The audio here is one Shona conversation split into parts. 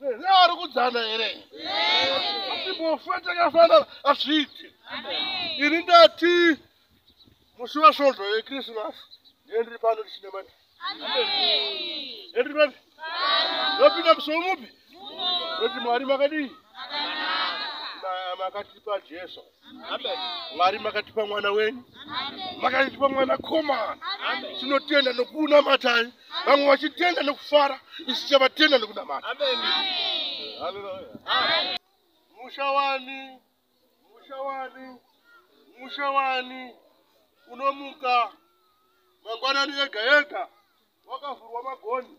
nevari kudzana here atimbofa takafanana azviiti ini ndati musi wasvondo yekrisimasi ndendiri pano tichine mani ndendiri mani ndopinda musi womupi noti mwari makadii makatipa jesu mwari makatipa mwana wenyu makatipa mwana komana tinotenda nokunamatai vamwe vachitenda nokufara isu chavatenda nokunamata musha wani musha wani musha wani unomuka mangwanani yega yega wakavhurwa magoni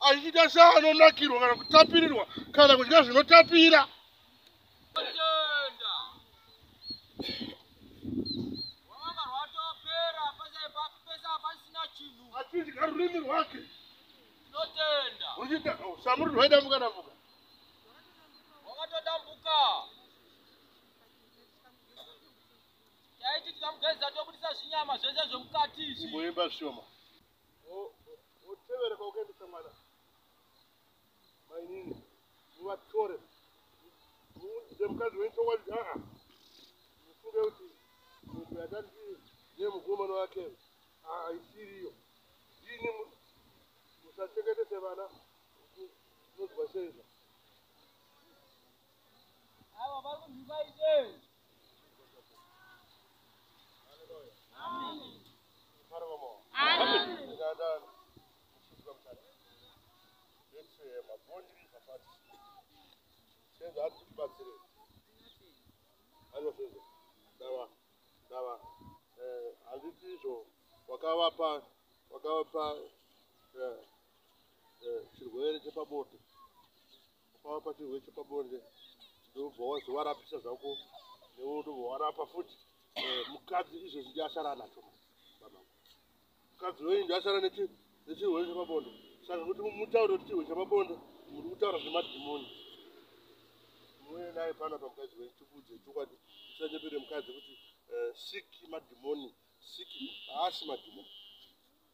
achiita seanonakirwa kana kutapirirwa kana kudya zvinotapira achidya rurimi rwake ruchiita usamuri rwaidambuka dambuka taiti tikamugeza tobudisa zvinyama zvese zvemukati izvi imboimba shoma Motevera kwaukaendesa mwana. Mainini. Muvatore. Muudze mukadzi wenyu chokwadi kuti aa. Mufunge kuti munhu yatandi nemukomana wake haisiriyo. Ndini musachengetese vana. Munozwa sei izvo? Ava vari kunzwisa izvi. wakavapa wakavapa eh, eh, chirwere chepabonde ukava pachirwe chepabonde ndobva wazovarapisa zvako newe ndobva warapa futi eh, mukadzi izvezvi ndiasara anacho mukadzi wenyu ndiasara nechirwe chepabonde saka kuti mutaure kuti chirwe chepabonde muri kutaura zvemadhimoni mune naye pana pamukadzi wenyu tikudze chokwadi tisanyepere mukadzi kuti eh, siki madhimoni siki haasi madhimoni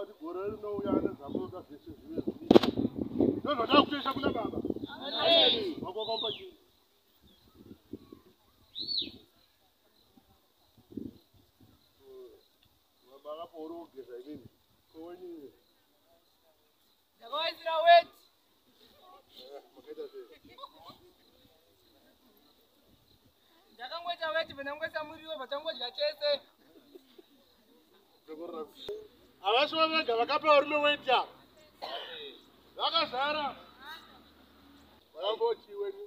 Kuti gore rinouya ane zvamunoda zvese zvive zvii. Ndozvoda kutoisa kuna baba. Amen. Vakokomba chii? Baba vapo uri kugeza inini. Kowenini. Ndakavaisira wet. Ndakangoita wet pandangoisa muriwo patangodya chese. Havasi vavega vakapa varume weti apa. Vakazara. Vakamboti wenyu.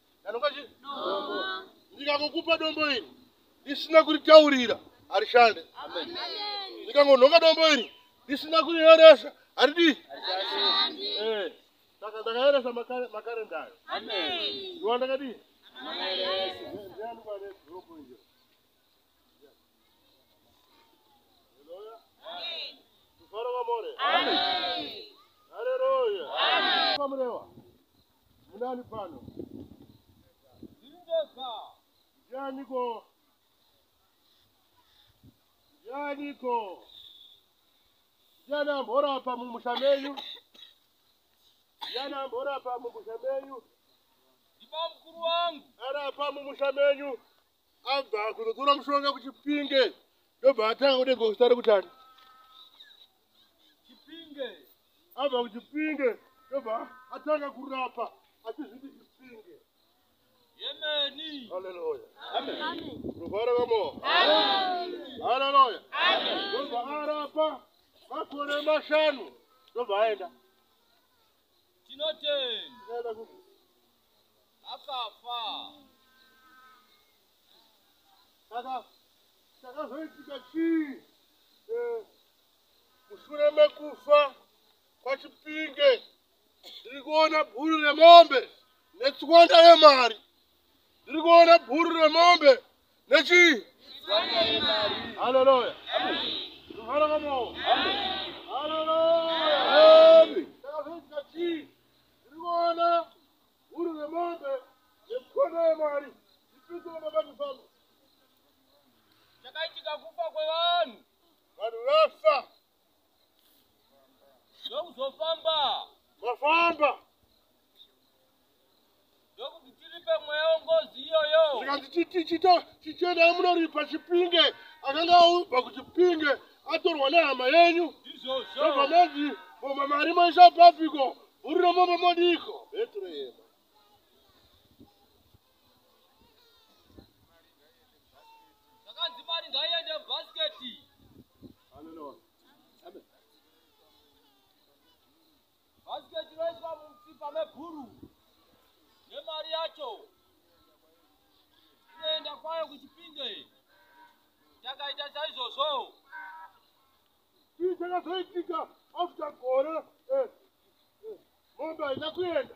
ndanopa chii ndikakukupa dombo iri ndisina kuritaurira harishande ndikangonhonga dombo iri ndisina kurieresa haridii eh, saka ndakaeresa makarenda ayo ndiwa ndakadii Hallelujah. Hallelujah. Munani pano. Ndingeza. Ndianiko? Ndianiko? Ndiani ambora apa mumusha menyu? Ndiani ambora apa mumusha menyu? Ndibamukuru wangu. Ari apa mumusha menyu? abva kuzotora mushonga kuchipinge ndobva atanga kuti gosta ari kutani chipinge abva kuchipinge ndobva atanga kurapa achizviti chipinge yemeni haleluya ruvara vamo haleluya ndobva arapa makore mashanu ndobva aenda tinotenda akafa saka chakazoitika chii eh, mushure mekufa kwachipinge ndiri kuona bhuru remombe netswanda yemari ndiri kuona bhuru remombe nechii haleluya Ndikuona huru nemombe nemkono yemwari ndipindire mabati pano. Chakaitika kufa kwevanhu. Vanhu vafa. Ndokuzofamba. Vafamba. ndokuti tiripe mweya wengozi iyoyo zvikanzi tichita tichienda munoripa chipinge akanga aubva kuchipinge atorwa nehama yenyu ndizvozvo obva manzi boma mari moisa papiko bhuri romomba modiiko betrehema zvakanzi mari ngaiende mubhasiketi Bhasiketi roiswa mumutsipa mebhuru nemari yacho inoenda kwayo kuchipinge takaita saizvozvo chii chakazoitika after gore eh, eh, mombe haina kuenda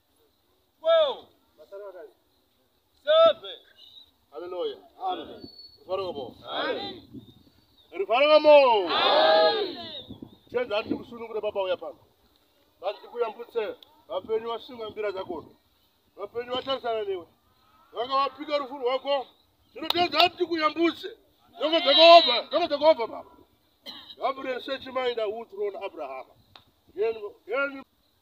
12 7 Hallelujah. Amen. Rufaro ngamo. Amen. Rufaro ngamo. Amen. Chenza ati kusunungure baba uya pano. Vati kuyambutse vapenyu vasunga mbira dzako. Vapenyu vatarisana newe. Vanga vapika rufu rwako. Tinotenda ati kuyambutse. Ndoko dzakova, ndoko dzakova baba. Gabriel sechimainda utrona Abraham. Yenu, yenu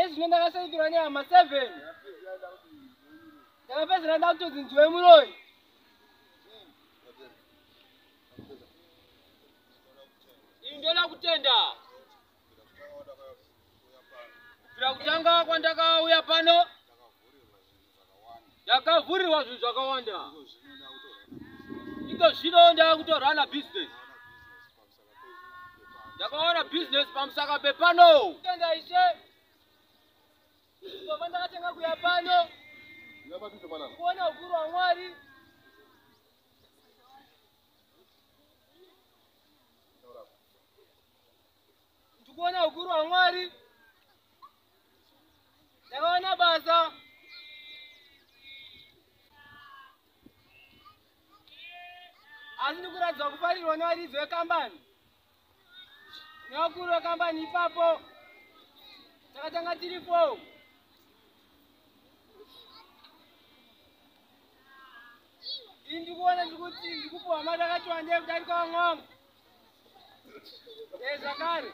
ezvino ndakasaitirwa nehama seven ndakapedzera ndakutonzi ndiwe muroi ini ndoda kutenda kubvira kutanga kwandakauya pano ndakavhurirwa zvinhu zvakawanda iko zvino ndava kutorana business ndakawana business pamusaka pepano tenda ishe ndobva ndakatenga kuya pano kuona ukuru wamwari ndikuona ukuru wamwari ndakaona basa asi ndikuratidza kufarirwa nevaridzi vekambani nevakuru vekambani ipapo takatanga tiri four ini ndikuona ndikuti ndikupuwa mari akati wandei kudarika vamwe vangu e zvakare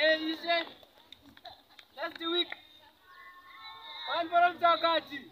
e ishe last week vanhu vanopita vakati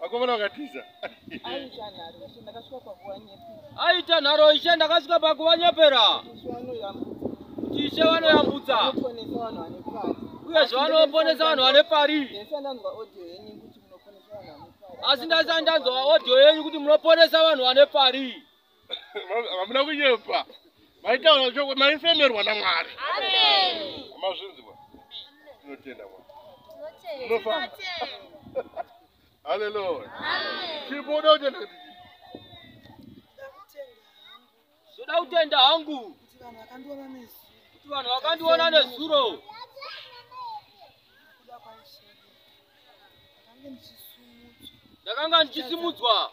Vakomana vakatiza. Aita nharo ishe ndakasvika pakuvanyepera. Aita nharo ishe ndakasvika pakuvanyepera. Kuti ishe vanoyambutsa. Vanoponesa vanhu vane pari. Uye zvavanoponesa vanhu vane pari. Ndaisandanzwa audio yenyu kuti asi ndaisandanzwa audio yenyu kuti munoponesa vanhu vane pari hamuna kunyepa maitaura choko maifemerwa namwari amazvinzwa tinotenda mwari unofamba haleluya chibuda utenda kuti ndoda kutenda hangu kuti vanhu vakandiona nezuro ndakanga ndichisimudzwa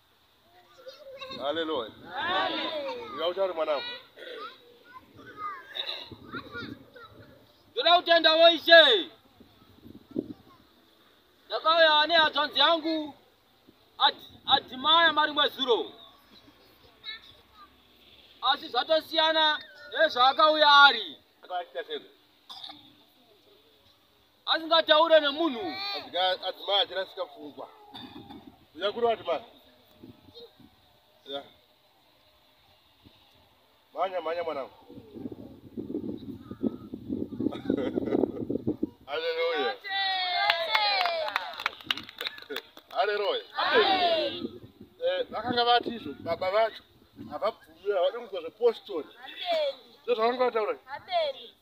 Haleluya. Ndinoda kutaura mwanangu. Ndoda kutenda woishe. Ndakauya ne hadzvanzi yangu Ad- Adimaya marimwe zuro. Asi zvatosiyana nezvaakauya ari. Akaita sei? asingataure nemunhu adzimai achirasika pfungwa yakuri vati mani ya mhanya mhanya mwanangu aleluya aleluya eh, vakanga vati izvo baba vacho havabvume havadi kunzwa zvepostori ndozvavanga vataura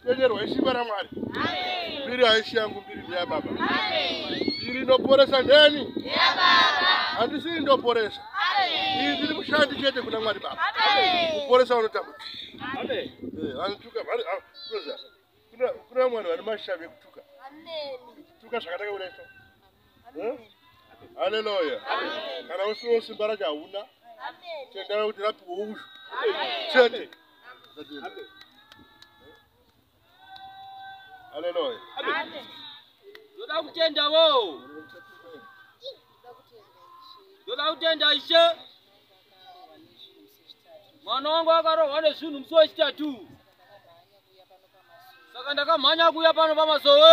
Tenyerwa ishimba ramwari mbiri haishi yangu mbiri ndeyababa mbiri inoporesa ndeni handisi indoporesa iyi ndiri mushandi chete kuna mwari baba kuporesa vanotambudza eh, vanotuka ah, kuna vamwani vane mashavi ekutuka tuka zvakataka kureso haleluya kana usiwo simba racho hauna tendera kuti rapiwa uyu chete haleluya ndoda kutenda wo ndoda kutenda ishe mwana wangu akarohwa nezvinhu musi wechitatu saka ndakamhanya kuuya pano pamasowe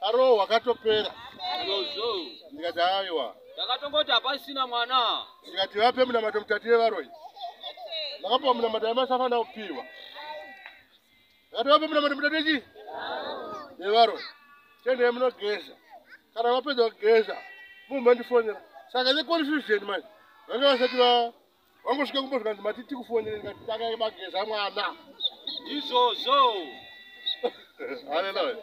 Aro wakatopera. Rozo. Ndikati aiwa. Ndakatongoti hapasina mwana. Ndikati vape munamato mutatire varoyi. Ndakapa munamato yamasafa na upiwa. Ndakati vape munamato mutatire chi? Nevaroyi. Tende muno geza. Kana vapedza kugeza. Mumba ndifonera. Saka the confusion man. Vanga vasati va wangosvika kumba zvikanzi mati tikufonere ndikati takabageza mwana izvozvo haleluya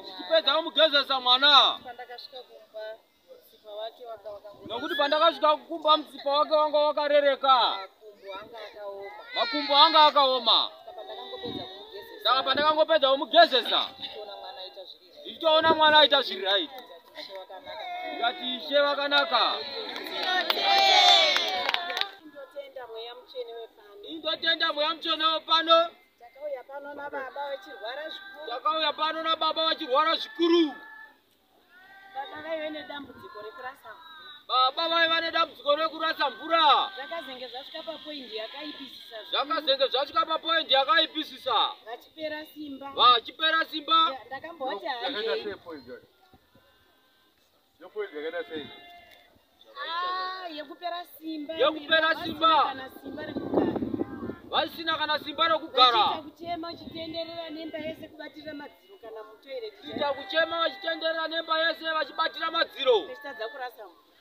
tichipedza kumugezesa mwana pandakasvika kumba nokuti pandakasvika kukumba mutsipa wake wanga wakarereka makumbo anga akaoma saka pandakangopedza kumugezesa ndichitoona mwana aita zviri right ndikati ishe vakanaka Ndotenda mweya mutsvene wepano. indotenda mweya mutsvene wepano Takauya pano nababa vachirwara zvikuru. takauya pano nababa vachirwara zvikuru Baba vaive nedambudziko rekurasa mvura. baba vaiva nedambudziko rekurasa mvura Zvakazenge zvasvika papoindi yakaipisisa zvikuru. zvakazenge zvasvika papoindi yakaipisisa Vati kupera simba vachipera simba ndakamboti hayi ah, yekupera simba yekupera simba vasina kana simba rekugara kuchema uchitenderera nemba yese kubatira madziro kana mutoireti kuita kuchema vachitenderera nemba yese vachibatira madziro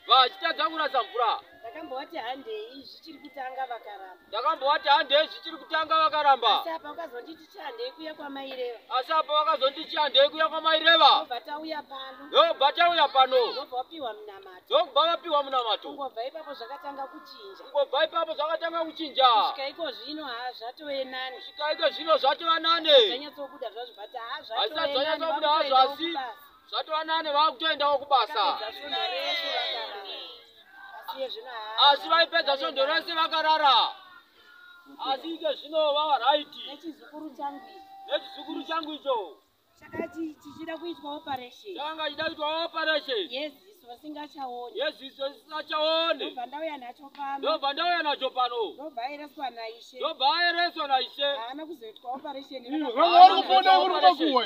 vachitadza kurasa mvura ndakambovati handei zvichiri kutanga vakaramba ndakambovati handei zvichiri kutanga vakaramba asi apa vakazonditi chihandei kuya kwamaireva asi apa vakazonditi chihandei kuya kwamaireva ndobva tauya pano ndobva tauya pano ndobva wapiwa munamato ndobva vapiwa munamato kungobva ipapo zvakatanga kuchinja kungobva ipapo zvakatanga kuchinja kusvika iko zvino ha zvatove nani kusvika iko zvino zvatova nani zvanyatsobuda zvazvo but ha zvatove nani hazvisati zvanyatsobuda hazvo asi zvatova nane vava kutoendawo kubasa asi vaipedza svondo rese vakarara asi ike zvino vava raiti nechizukuru changu nechizukuru changu icho chakanga chichida kuitwa operation chakanga chichida kuitwa operation yes vasingachaone yesu isu vasingachaone ndobva ndauya nacho pano ndobva ndauya nacho pano ndobva aereswa naishe ndobva aereswa naishe haana kuzoitwa operation uri kuona uri kubakuwa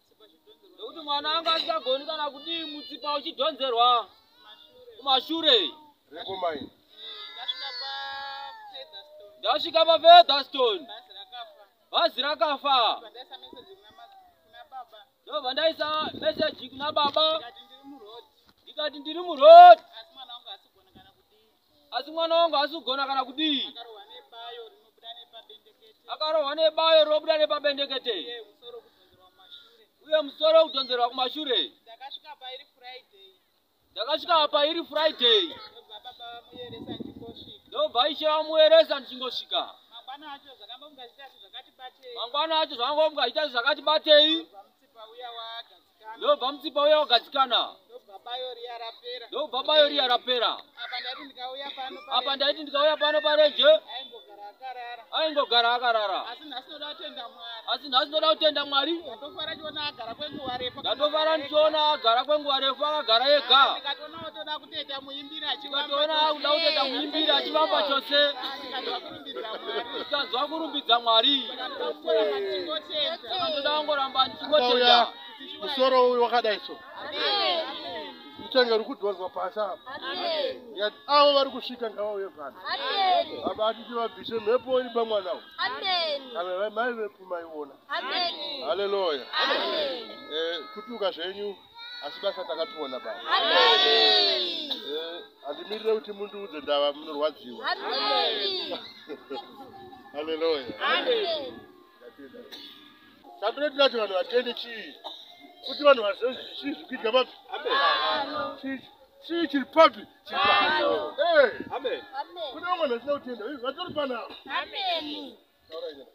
nekuti mwana anga asingagoni kana kudii mutsipa uchidhonzerwa kumashure ndasvika pafeatherstone bhazi rakafa ndobva ndaisa meseji kuna baba ndikati ndiri muroad asi mwana wangu haasi kugona kana kudii akarohwa nebayo rinobuda nepabendekete uye musoro wekudhonzerwa kumashure ndakasvika apa iri friday ndobva aishe vamuyeresa ndichingosvika mangwana acho zvakangomukazita zvakati batei ndobva mutsipa uya wagadzikana ndobva bayo riya rapera apa ndaiti ndikauya pano parenje aingogara akarara asi nhasi ndoda kutenda mwari ndatofara ndichiona agara kwenguva refu akagara ega ndikatoona akuda kutenda muimbiri achivamba chose Tanzwa kurumbidza Mwari. Ndoda kungoramba ndichingotenda. Musoro uyu wakadai so. Mutenge uri kudhonzwa pasi apa. Yet avo vari kusvika ngavauye pano. Baba atiti vabvise mhepo iri pamwana uyu. Kana mai vepo maiona. Haleluya. Eh, kutuka zvenyu. asi basa takatoona baba handimirire kuti mundiudze ndava munorwadziwa haleluya chatinoda tati vanhu vatende chii kuti vanhu vazive chii zvikuitika papi chii chiri papi kune vamwe vanhu vasina kutenda vatori panavo